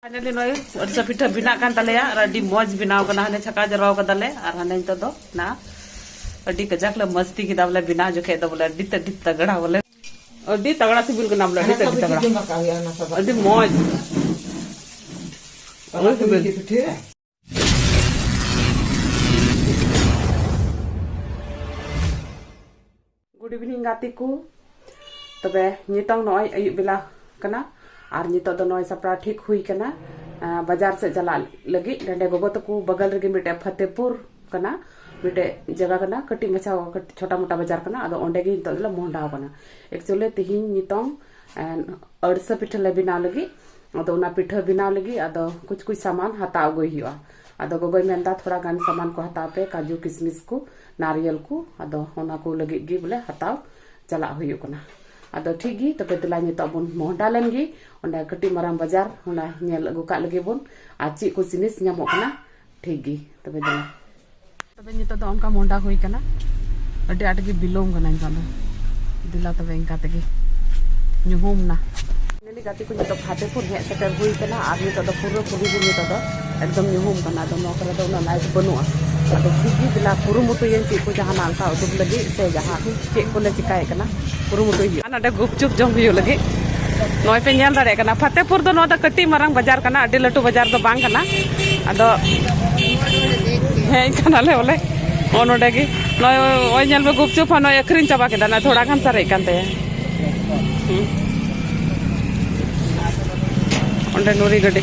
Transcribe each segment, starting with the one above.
finally ᱱᱚᱭ ᱟᱹᱨᱥᱟ ᱯᱤᱴᱷᱟᱹ ᱵᱮᱱᱟᱜ ᱠᱟᱱ ᱛᱟᱞᱮᱭᱟ ᱟᱨ ᱟᱹᱰᱤ ᱢᱚᱡᱽ ᱵᱮᱱᱟᱣ ᱠᱟᱱᱟ ᱦᱟᱱᱮ ᱪᱷᱟᱠᱟ ᱡᱟᱨᱣᱟ ᱠᱟᱫᱟᱞᱮ ᱟᱨ ᱦᱟᱱᱮ ᱱᱤᱛᱚᱜ ᱫᱚ ᱱᱟ ᱟᱹᱰᱤ ᱠᱟᱡᱟᱠ ᱞᱮ ᱢᱚᱡᱽᱛᱤ ᱠᱮᱫᱟ ᱵᱚᱞᱮ ᱵᱮᱱᱟᱣ ᱡᱚᱠᱷᱮᱡ ᱫᱚ ᱵᱚᱞᱮ ᱟᱹᱰᱤ ᱟᱹᱰᱤ ᱛᱟᱜᱲᱟ ᱵᱚᱞᱮ ᱟᱹᱰᱤ ᱛᱟᱜᱲᱟ ᱥᱤᱵᱤᱞ ᱠᱟᱱᱟ ᱵᱚᱞᱮ ᱟᱹᱰᱤ ᱟᱹᱰᱤ ᱛᱟᱜᱲᱟ ᱟᱹᱰᱤ ᱢᱚᱡᱽ ᱜᱩᱰ ᱤᱵᱷᱤᱱᱤᱝ ᱜᱟᱛᱮ ᱠᱚ ᱛᱚᱵᱮ ᱱᱤᱛᱚᱝ ᱱᱚᱜᱼᱚᱭ ᱟᱹᱭᱩᱵ ᱵᱮᱞᱟ ᱠᱟᱱᱟ ᱟᱨ ᱱᱤᱛᱚᱜ ᱫᱚ ᱱᱚᱜᱼᱚᱭ ᱥᱟᱯᱲᱟᱣ ᱴᱷᱤᱠ ᱦᱩᱭ ᱠᱟᱱᱟ ᱵᱟᱡᱟᱨ ᱥᱮᱫ ᱪᱟᱞᱟᱜ ᱞᱟᱹᱜᱤᱫ ᱱᱚᱰᱮ ᱜᱚᱜᱚ ᱛᱟᱠᱚ ᱵᱟᱜᱟᱞ ᱨᱮᱜᱮ ᱢᱤᱫᱴᱮᱡ ᱯᱷᱟᱛᱮᱯᱩᱨ ᱠᱟᱱᱟ ᱢᱤᱫᱴᱮᱡ ᱡᱟᱭᱜᱟ ᱠᱟᱱᱟ ᱠᱟᱹᱴᱤᱡ ᱢᱟᱪᱷᱟ ᱪᱷᱚᱴᱟ ᱢᱚᱴᱟ ᱵᱟᱡᱟᱨ ᱠᱟᱱᱟ ᱟᱫᱚ ᱚᱸᱰᱮ ᱜᱮ ᱱᱤᱛᱚᱜ ᱫᱚᱞᱮ ᱢᱚᱦᱰᱟᱣ ᱠᱟᱱᱟ ᱮᱠᱪᱩᱭᱮᱞᱤ ᱛᱤᱦᱤᱧ ᱱᱤᱛᱚᱝ ᱟᱹᱲᱥᱟᱹ ᱯᱤᱴᱷᱟᱹ ᱞᱮ ᱵᱮᱱᱟᱣ ᱞᱟᱹᱜᱤᱫ ᱟᱫᱚ ᱚᱱᱟ ᱯᱤᱴᱷᱟᱹ ᱵᱮᱱᱟᱣ ᱞᱟᱹᱜᱤᱫ ᱟᱫᱚ ᱠᱩᱪ ᱠᱩᱪ ᱥᱟᱢᱟᱱ ᱦᱟᱛᱟᱣ ᱟᱹᱜᱩᱭ ᱦᱩᱭᱩᱜᱼᱟ ᱟᱫᱚ ᱜᱚᱜᱚᱭ ᱢᱮᱱᱫᱟ ᱛᱷᱚᱲᱟ ᱜᱟᱱ ᱥᱟᱢᱟᱱ ᱠᱚ ᱦᱟᱛᱟᱣ ᱯᱮ ᱠᱟᱡᱩ ᱠᱤᱥᱢᱤᱥ ᱠᱚ ᱱᱟᱨᱤᱭᱮᱞ ᱠᱚ ᱟᱫᱚ ᱚᱱᱟ ᱠᱚ ᱞᱟᱹᱜᱤᱫ ᱜᱮ ᱵᱚᱞᱮ ᱦᱟᱛᱟᱣ ᱪᱟᱞᱟᱜ ᱦᱩᱭᱩᱜ ᱠᱟᱱᱟ ᱟᱫᱚ ᱴᱷᱤᱠ ᱜᱮ ᱛᱚᱵᱮ ᱫᱮᱞᱟ ᱱᱤᱛᱚᱜ ᱵᱚᱱ ᱢᱚᱦᱰᱟ ᱞᱮᱱ ᱜᱮ ᱚᱸᱰᱮ ᱠᱟᱹᱴᱤᱡ ᱢᱟᱨᱟᱝ ᱵᱟᱡᱟᱨ ᱚᱸᱰᱮ ᱧᱮᱞ ᱟᱹᱜᱩ ᱠᱟᱜ ᱞᱟᱹᱜᱤᱫ ᱵᱚᱱ ᱟᱨ ᱪᱮᱫ ᱠᱚ ᱡᱤᱱᱤᱥ ᱧᱟᱢᱚᱜ ᱠᱟᱱᱟ ᱴᱷᱤᱠ ᱜᱮ ᱛᱚᱵᱮ ᱫᱚ ᱛᱚᱵᱮ ᱱᱤᱛᱚᱜ ᱫᱚ ᱚᱱᱠᱟ ᱢᱚᱦᱰᱟ ᱦᱩᱭ ᱠᱟᱱᱟ ᱟᱹᱰᱤ ᱟᱸᱴ ᱜᱮ ᱵᱤᱞᱚᱢ ᱠᱟᱱᱟ ᱱᱤᱛᱚᱜ ᱫᱚ ᱫᱮᱞᱟ ᱛᱚᱵᱮ ᱤᱱᱠᱟ ᱛᱮᱜᱮ ᱧᱩᱦᱩᱢ ᱱᱟ ᱱᱤᱞᱤ ᱜᱟᱛᱮ ᱠᱚ ᱱᱤᱛᱚᱜ ᱯᱷᱟᱛᱮᱯᱩᱨ ᱦᱮᱡ ᱥᱮᱴᱮᱨ ᱦᱩᱭ ᱠᱟᱱᱟ ᱟᱨ ᱱᱤᱛᱚᱜ ᱫᱚ ᱯᱩᱨᱟᱹ ᱯᱩᱨᱤ ᱜᱮ ᱱᱤᱛᱚᱜ ᱫᱚ ᱮᱠᱫᱚᱢ ᱧᱩᱦᱩᱢ ᱠᱟᱱᱟ ᱟᱫᱚ ᱱᱚᱣᱟ ᱠᱚᱨᱮ ᱫᱚ ᱩᱱᱟᱹᱜ ᱞᱟᱭᱤᱴ ᱵᱟᱹᱱᱩᱜᱼᱟ ᱟᱫᱚ ᱴᱷᱤᱠ ᱜᱮ ᱫᱮᱞᱟ ᱠᱩᱨᱩᱢᱩᱴᱩᱭᱟᱹᱧ ᱪᱮᱫ ᱠᱚ ᱡᱟᱦᱟᱱᱟᱜ ᱚᱱᱠᱟ ᱩᱫᱩᱜ ᱞᱟᱹᱜᱤᱫ ᱥᱮ ᱡᱟᱦᱟᱸ ᱪᱮᱫ ᱠᱚᱞᱮ ᱪᱤᱠᱟᱭᱮᱫ ᱠᱟᱱᱟ ᱠᱩᱨᱩᱢᱩᱴᱩᱭ ᱦᱩᱭᱩᱜᱼᱟ ᱱᱚᱰᱮ ᱜᱩᱯᱪᱩᱯ ᱡᱚᱢ ᱦᱩᱭᱩᱜ ᱞᱟᱹᱜᱤᱫ ᱱᱚᱜᱼᱚᱭ ᱯᱮ ᱧᱮᱞ ᱫᱟᱲᱮᱭᱟᱜ ᱠᱟᱱᱟ ᱯᱷᱟᱛᱮᱯᱩᱨ ᱫᱚ ᱱᱚᱣᱟ ᱫᱚ ᱠᱟᱹᱴᱤᱡ ᱢᱟᱨᱟᱝ ᱵᱟᱡᱟᱨ ᱠᱟᱱᱟ ᱟᱹᱰᱤ ᱞᱟᱹᱴᱩ ᱵᱟᱡᱟᱨ ᱫᱚ ᱵᱟᱝ ᱠᱟᱱᱟ ᱟᱫᱚ ᱦᱮᱡ ᱠᱟᱱᱟᱞᱮ ᱵᱚᱞᱮ ᱱᱚᱜᱼᱚ ᱱᱚᱰᱮ ᱜᱮ ᱱᱚᱜᱼᱚᱭ ᱱᱚᱜᱼᱚᱭ ᱧᱮᱞ ᱢᱮ ᱜᱩᱯᱪᱩᱯ ᱦᱚᱸ ᱱᱚᱜᱼᱚᱭ ᱟᱹᱠᱷᱨᱤᱧ ᱪᱟᱵᱟ ᱠᱮᱫᱟ ᱱᱚᱜᱼᱚᱭ ᱛᱷᱚᱲᱟ ᱜᱟᱱ ᱥᱟᱨᱮᱡ ᱠᱟᱱ ᱛᱟᱭᱟ ᱚᱸᱰᱮ ᱱᱩᱨᱤ ᱜᱟᱹᱰᱤ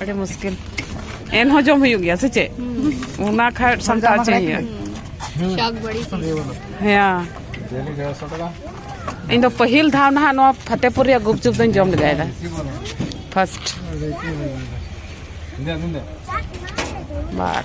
ᱟᱹᱰᱤ ᱢᱩᱥᱠᱤᱞ ᱮᱱᱦᱚᱸ ᱡᱚᱢ ᱦᱩᱭᱩᱜ ᱜᱮᱭᱟ ᱥᱮ ᱪᱮᱫ ᱚᱱᱟ ᱠᱷᱟᱡ ᱥᱟᱢᱴᱟᱣ ᱦᱚᱪᱚᱭ ᱦᱩᱭᱩᱜᱼᱟ ᱥᱟᱜ ᱵᱟᱹᱲᱤ ᱦᱮᱸ ᱤᱧ ᱫᱚ ᱯᱟᱹᱦᱤᱞ ᱫᱷᱟᱣ ᱱᱟᱦᱟᱜ ᱱᱚᱣᱟ ᱯᱷᱟᱛᱮᱯᱩᱨ ᱨᱮᱭᱟᱜ ᱜᱩᱯᱪᱩᱯ ᱫᱚᱧ ᱡᱚᱢ ᱞᱮᱜᱟᱭᱮᱫᱟ ᱯᱷᱟᱥᱴ ᱵᱟᱨ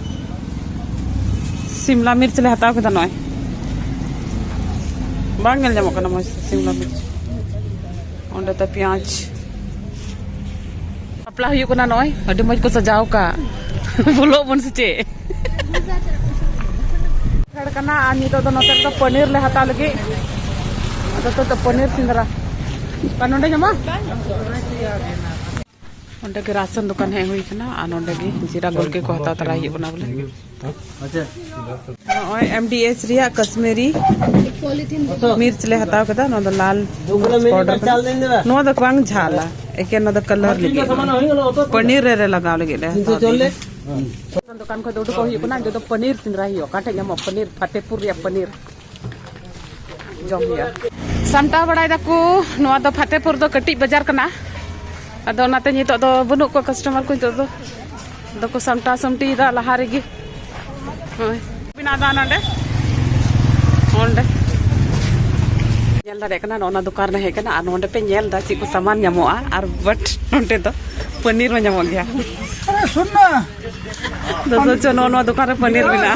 ᱥᱤᱢᱞᱟ ᱢᱤᱨᱪ ᱞᱮ ᱦᱟᱛᱟᱣ ᱠᱮᱫᱟ ᱱᱚᱜᱼᱚᱭ ᱵᱟᱝ ᱧᱮᱞ ᱧᱟᱢᱚᱜ ᱠᱟᱱᱟ ᱢᱚᱡᱽ ᱥᱤᱢᱞᱟ ᱢᱤᱨᱪ ᱚᱸᱰᱮ ᱛᱮ ᱯᱮᱸᱭᱟᱡᱽ ᱵᱟᱯᱞᱟ ᱦᱩᱭᱩᱜ ᱠᱟᱱᱟ ᱱᱚᱜᱼᱚᱭ ᱟᱹᱰᱤ ᱢᱚᱡᱽ ᱠᱚ ᱥᱟᱡᱟᱣ ᱟᱠᱟᱫ ᱵᱚᱞᱚᱜ ᱵᱚᱱ ᱥᱮ ᱪᱮᱫ ᱦᱮᱲ ᱠᱟᱱᱟ ᱟᱨ ᱱᱤᱛᱚᱜ ᱫᱚ ᱱᱚᱛᱮ ᱨᱮᱫᱚ ᱯᱟᱱᱤᱨ ᱞᱮ ᱦᱟᱛᱟᱣ ᱞᱟᱹᱜᱤᱫ ᱟᱫᱚ ᱛᱚ ᱯᱟᱱᱤᱨ ᱥᱤᱸᱫᱽᱨᱟ ᱵᱟᱝ ᱱᱚᱰᱮ ᱧᱟᱢᱚᱜᱼᱟ ᱚᱸᱰᱮ ᱜᱮ ᱨᱟᱥᱚᱱ ᱫᱚᱠᱟᱱ ᱦᱮᱡ ᱦᱩᱭ ᱠᱟᱱᱟ ᱟᱨ ᱱᱚᱸᱰᱮ ᱜᱮ ᱡᱤᱨᱟ ᱜᱚᱞᱠᱮ ᱠᱚ ᱦᱟᱛᱟᱣ ᱛᱟᱨᱟᱭ ᱦᱩᱭᱩᱜ ᱠᱟᱱᱟ ᱵᱚᱞᱮ ᱱᱚᱜᱼᱚᱭ ᱮᱢ ᱰᱤ ᱮᱥ ᱨᱮᱭᱟᱜ ᱠᱟᱥᱢᱤᱨᱤ ᱢᱤᱨᱪ ᱞᱮ ᱦᱟᱛᱟᱣ ᱠᱮᱫᱟ ᱱᱚᱣᱟ ᱫᱚ ᱞᱟᱞ ᱯᱟᱣᱰᱟᱨ ᱠᱟᱱᱟ ᱱᱚᱣᱟ ᱫᱚ ᱵᱟᱝ ᱡᱷᱟᱞᱟ ᱮᱠᱮᱱ ᱱᱚᱣᱟ ᱫᱚ ᱠᱟᱞᱟᱨ ᱞᱟᱹᱜᱤᱫ ᱯᱟᱱᱤᱨ ᱨᱮ ᱞᱟᱜᱟᱣ ᱞᱟᱹᱜᱤᱫ ᱞᱮ ᱫᱚᱠᱟᱱ ᱠᱷᱚᱱ ᱫᱚ ᱩᱰᱩᱠᱚᱜ ᱦᱩᱭᱩᱜ ᱠᱟᱱᱟ ᱡᱚᱛᱚ ᱯᱟᱱᱤᱨ ᱥᱮᱸᱫᱽᱨᱟ ᱦᱩᱭᱩᱜᱼᱟ ᱚᱠᱟ ᱴᱷᱮᱡ ᱧᱟᱢᱚᱜ ᱯᱟᱱᱤᱨ ᱯᱷᱟᱛᱮᱯᱩᱨ ᱨᱮᱭᱟᱜ ᱯᱟᱱᱤᱨ ᱡᱚᱢ ᱦᱩᱭᱩᱜᱼᱟ ᱥᱟᱢᱴᱟᱣ ᱵᱟᱲᱟᱭ ᱫᱟᱠᱚ ᱱᱚᱣᱟ ᱫᱚ ᱯᱷᱟᱛᱮᱯᱩᱨ ᱫᱚ ᱠᱟᱹᱴᱤᱡ ᱵᱟᱡᱟᱨ ᱠᱟᱱᱟ ᱟᱫᱚ ᱚᱱᱟᱛᱮ ᱱᱤᱛᱚᱜ ᱫᱚ ᱵᱟᱹᱱᱩᱜ ᱠᱚᱣᱟ ᱠᱟᱥᱴᱚᱢᱟᱨ ᱠᱚ ᱱᱤᱛᱚᱜ ᱫᱚ ᱟᱫᱚ ᱠᱚ ᱥᱟᱢᱴᱟᱣ ᱥᱟᱢᱴᱤᱭᱮᱫᱟ ᱞᱟᱦᱟ ᱨᱮᱜᱮ ᱦᱳᱭ ᱵᱮᱱᱟᱣ ᱫᱟ ᱱᱚᱰᱮ ᱚᱸᱰᱮ ᱧᱮᱞ ᱫᱟᱲᱮᱭᱟᱜ ᱠᱟᱱᱟ ᱱᱚᱜᱼᱚ ᱱᱚᱣᱟ ᱫᱚᱠᱟᱱ ᱨᱮ ᱦᱮᱡ ᱠᱟᱱᱟ ᱟᱨ ᱱᱚᱰᱮ ᱯᱮ ᱧᱮᱞ ᱫᱟ ᱪᱮᱫ ᱠᱚ ᱥᱟᱢᱟᱱ ᱧᱟᱢᱚᱜᱼᱟ ᱟᱨ ᱵᱟᱴ ᱱᱚᱰᱮ ᱫᱚ ᱯᱟᱱᱤᱨ ᱦᱚᱸ ᱧᱟᱢᱚᱜ ᱜᱮᱭᱟ ᱫᱚ ᱥᱚᱪᱚ ᱱᱚᱜᱼᱚ ᱱᱚᱣᱟ ᱫᱚᱠᱟᱱ ᱨᱮ ᱯᱟᱱᱤᱨ ᱢᱮᱱᱟᱜᱼᱟ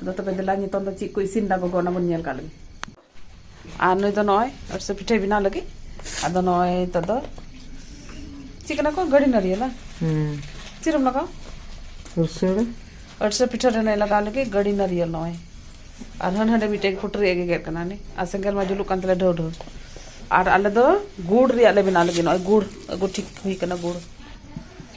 ᱟᱫᱚ ᱛᱚᱵᱮ ᱫᱮᱞᱟ ᱱᱤᱛᱚᱝ ᱫᱚ ᱪᱮᱫ ᱠᱚ ᱤᱥᱤᱱ ᱫᱟ ᱜᱚᱜᱚ ᱚᱱᱟ ᱵᱚᱱ ᱧᱮᱞ ᱠᱟᱜ ᱞᱮᱜᱮ ᱟᱨ ᱱᱩᱭ ᱫᱚ ᱱᱚᱜᱼᱚᱭ ᱟᱨᱥᱮ ᱯᱤᱴᱷᱟᱹᱭ ᱵᱮᱱᱟᱣ ᱞᱟᱹᱜᱤᱫ ᱟᱫᱚ ᱱᱚᱜᱼᱚᱭ ᱱᱤᱛᱚᱜ ᱫᱚ ᱪᱮᱫ ᱠᱟᱱᱟ ᱠᱚ ᱜᱟᱹᱰᱤ ᱱᱟᱹᱨᱤᱭᱟᱞ ᱵᱟᱝ ᱪᱮᱫ ᱨᱮᱢ ᱞᱟᱜᱟᱣ ᱟᱨᱥᱮ ᱟᱨᱥᱮ ᱯᱤᱴᱷᱟᱹ ᱨᱮ ᱱᱚᱜᱼᱚᱭ ᱞᱟᱜᱟᱣ ᱞᱟᱹᱜᱤᱫ ᱜᱟᱹᱰᱤ ᱱᱟᱹᱨᱤᱭᱟᱞ ᱱᱚᱜᱼᱚᱭ ᱟᱨ ᱦᱟᱹᱱ ᱦᱟᱸᱰᱮ ᱢᱤᱫᱴᱮᱡ ᱯᱷᱩᱴᱨᱤ ᱮ ᱜᱮᱜᱮᱫ ᱠᱟᱱᱟ ᱱᱤ ᱟᱨ ᱥᱮᱸᱜᱮᱞ ᱢᱟ ᱡᱩᱞᱩᱜ ᱠᱟᱱ ᱛᱟᱞᱮ ᱰᱷᱟᱹᱣ ᱰᱷᱟᱹᱣ ᱟᱨ ᱟᱞᱮ ᱫᱚ ᱜᱩᱲ ᱨᱮᱭᱟᱜ ᱞᱮ ᱵᱮᱱᱟᱣ ᱞᱟᱹᱜᱤᱫ ᱱᱚᱜᱼᱚᱭ ᱜᱩᱲ ᱟᱹᱜᱩ ᱴᱷᱤᱠ ᱦᱩᱭ ᱠᱟᱱᱟ ᱜᱩᱲ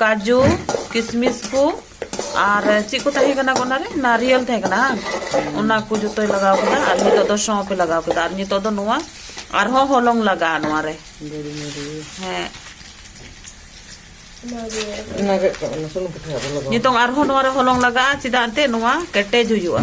ᱠᱟᱡᱩ ᱠᱤᱥᱢᱤᱥ ᱠᱚ ᱟᱨ ᱪᱮᱫ ᱠᱚ ᱛᱟᱦᱮᱸ ᱠᱟᱱᱟ ᱚᱱᱟᱨᱮ ᱱᱟᱨᱤᱭᱮᱞ ᱛᱟᱦᱮᱸ ᱠᱟᱱᱟ ᱚᱱᱟ ᱠᱚ ᱡᱚᱛᱚᱭ ᱞᱟᱜᱟᱣ ᱠᱮᱫᱟ ᱟᱨ ᱱᱤᱛᱚᱜ ᱫᱚ ᱥᱚᱸᱯ ᱮ ᱞᱟᱜᱟᱣ ᱠᱮᱫᱟ ᱟᱨ ᱱᱤᱛᱚᱜ ᱫᱚ ᱱᱚᱣᱟ ᱟᱨᱦᱚᱸ ᱦᱚᱞᱚᱝ ᱞᱟᱜᱟᱜᱼᱟ ᱱᱚᱣᱟ ᱨᱮ ᱦᱮᱸ ᱱᱤᱛᱚᱝ ᱟᱨᱦᱚᱸ ᱱᱚᱣᱟ ᱨᱮ ᱦᱚᱞᱚᱝ ᱞᱟᱜᱟᱜᱼᱟ ᱪᱮᱫᱟᱜ ᱮᱱᱛᱮᱫ ᱱᱚᱣᱟ ᱠᱮᱴᱮᱡ ᱦᱩᱭᱩᱜᱼᱟ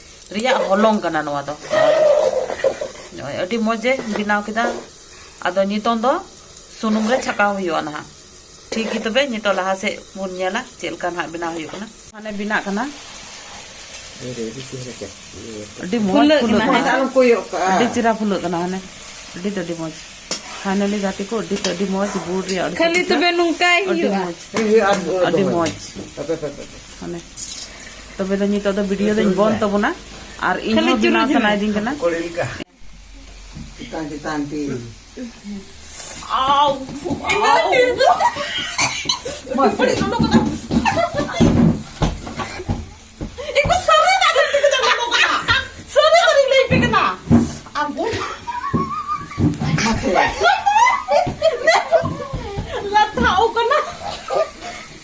ᱨᱮᱭᱟᱜ ᱦᱚᱞᱚᱝ ᱠᱟᱱᱟ ᱱᱚᱣᱟ ᱫᱚ ᱱᱚᱜᱼᱚᱭ ᱟᱹᱰᱤ ᱢᱚᱡᱽ ᱮ ᱵᱮᱱᱟᱣ ᱠᱮᱫᱟ ᱟᱫᱚ ᱱᱤᱛᱚᱝ ᱫᱚ ᱥᱩᱱᱩᱢ ᱨᱮ ᱪᱷᱟᱠᱟᱣ ᱦᱩᱭᱩᱜᱼᱟ ᱱᱟᱦᱟᱜ ᱴᱷᱤᱠ ᱜᱮ ᱛᱚᱵᱮ ᱱᱤᱛᱚᱜ ᱞᱟᱦᱟ ᱥᱮᱫ ᱵᱚᱱ ᱧᱮᱞᱟ ᱪᱮᱫ ᱞᱮᱠᱟ ᱱᱟᱦᱟᱜ ᱵᱮᱱᱟᱣ ᱦᱩᱭᱩᱜ ᱠᱟᱱᱟ ᱢᱟᱱᱮ ᱵᱮᱱᱟᱜ ᱠᱟᱱᱟ ᱟᱹᱰᱤ ᱢᱚᱡᱽ ᱯᱷᱩᱞᱟᱹᱜ ᱠᱟᱱᱟ ᱟᱹᱰᱤ ᱪᱮᱦᱨᱟ ᱯᱷᱩᱞᱟᱹᱜ ᱠᱟᱱᱟ ᱦᱟᱱᱮ ᱟᱹᱰᱤ ᱛᱮ ᱟᱹᱰᱤ ᱢᱚᱡᱽ ᱯᱷᱟᱭᱱᱟᱞᱤ ᱜᱟᱛᱮ ᱠᱚ ᱟᱹᱰᱤ ᱛᱮ ᱟᱹᱰᱤ ᱢᱚᱡᱽ ᱵᱩᱲ ᱨᱮᱭᱟᱜ ᱠᱷᱟᱹᱞᱤ ᱛᱚᱵᱮ ᱱᱚᱝᱠᱟᱭ ᱦᱩᱭᱩᱜᱼᱟ ᱟᱹᱰᱤ ᱢᱚᱡᱽ ᱟᱹᱰᱤ ᱢᱚᱡᱽ ᱢᱟᱱᱮ ᱛᱚᱵᱮ ᱫᱚ ᱱᱤᱛᱚᱜ ᱫᱚ ᱵᱷᱤᱰᱤᱭᱳ ᱫᱚᱧ ᱵᱚᱱ ᱛᱟᱵᱚᱱᱟ ᱟᱨ ᱤᱧ ᱦᱚᱸ ᱵᱮᱱᱟᱣ ᱥᱟᱱᱟᱭᱤᱫᱤᱧ ᱠᱟᱱᱟ ᱪᱮᱛᱟᱱ ᱪᱮᱛᱟᱱ ᱛᱮ ᱟᱣ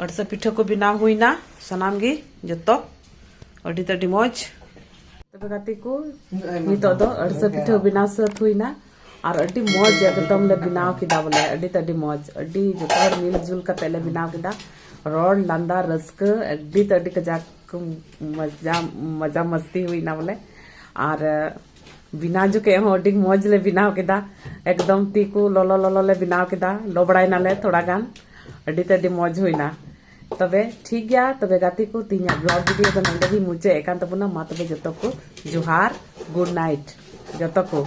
ᱟᱹᱰᱤ ᱥᱟ ᱯᱤᱴᱷᱟᱹ ᱠᱚ ᱵᱮᱱᱟᱣ ᱦᱩᱭᱱᱟ ᱥᱟᱱᱟᱢ ᱜᱮ ᱡᱚᱛᱚ ᱟᱹᱰᱤ ᱛᱮ ᱟᱹᱰᱤ ᱢᱚᱡᱽ ᱛᱚᱵᱮ ᱜᱟᱛᱮ ᱠᱚ ᱱᱤᱛᱚᱜ ᱫᱚ ᱟᱹᱰᱤ ᱥᱟ ᱯᱤᱴᱷᱟᱹ ᱵᱮᱱᱟᱣ ᱥᱟᱹᱛ ᱦᱩᱭᱱᱟ ᱟᱨ ᱟᱹᱰᱤ ᱢᱚᱡᱽ ᱮᱠᱫᱚᱢ ᱞᱮ ᱵᱮᱱᱟᱣ ᱠᱮᱫᱟ ᱵᱚᱞᱮ ᱟᱹᱰᱤ ᱛᱮ ᱟᱹᱰᱤ ᱢᱚᱡᱽ ᱟᱹᱰᱤ ᱡᱚᱛᱚ ᱦᱚᱲ ᱢᱤᱞ ᱡᱩᱞ ᱠᱟᱛᱮ ᱞᱮ ᱵᱮᱱᱟᱣ ᱠᱮᱫᱟ ᱨᱚᱲ ᱞᱟᱸᱫᱟ ᱨᱟᱹᱥᱠᱟᱹ ᱟᱹᱰᱤ ᱛᱮ ᱟᱹᱰᱤ ᱠᱟᱡᱟᱠ ᱢᱚᱡᱟ ᱢᱚᱡᱟ ᱢᱟᱥᱛᱤ ᱦᱩᱭᱱᱟ ᱵᱚᱞᱮ ᱟᱨ ᱵᱮᱱᱟᱣ ᱡᱚᱠᱷᱮᱡ ᱦᱚᱸ ᱟᱹᱰᱤ ᱢᱚᱡᱽ ᱞᱮ ᱵᱮᱱᱟᱣ ᱠᱮᱫᱟ ᱮᱠᱫᱚᱢ ᱛᱤ ᱠᱚ ᱞᱚᱞᱚ ᱞᱚᱞᱚ ᱞᱮ ᱵᱮᱱᱟᱣ ᱠᱮᱫᱟ ᱞᱚᱵᱲᱟᱭ ᱱᱟᱞᱮ ᱛᱷᱚᱲᱟ ᱜᱟᱱ ᱟᱹᱰᱤ ᱛᱮ ᱟᱹᱰᱤ ᱢᱚᱡᱽ ᱦᱩᱭᱱᱟ ᱛᱚᱵᱮ ᱴᱷᱤᱠ ᱜᱮᱭᱟ ᱛᱚᱵᱮ ᱜᱟᱛᱮ ᱠᱚ ᱛᱤᱦᱤᱧᱟᱜ ᱵᱞᱚᱜ ᱵᱷᱤᱰᱤᱭᱳ ᱫᱚ ᱱᱚᱰᱮ ᱜᱮ ᱢᱩᱪᱟᱹᱫ ᱮᱫ ᱠᱟᱱ ᱛᱟᱵᱚᱱᱟ ᱢᱟ ᱛᱚᱵᱮ ᱡᱚᱛᱚ ᱠᱚ ᱡᱚᱦᱟᱨ ᱜᱩᱰ ᱱᱟᱭᱤᱴ ᱡᱚᱛᱚ ᱠᱚ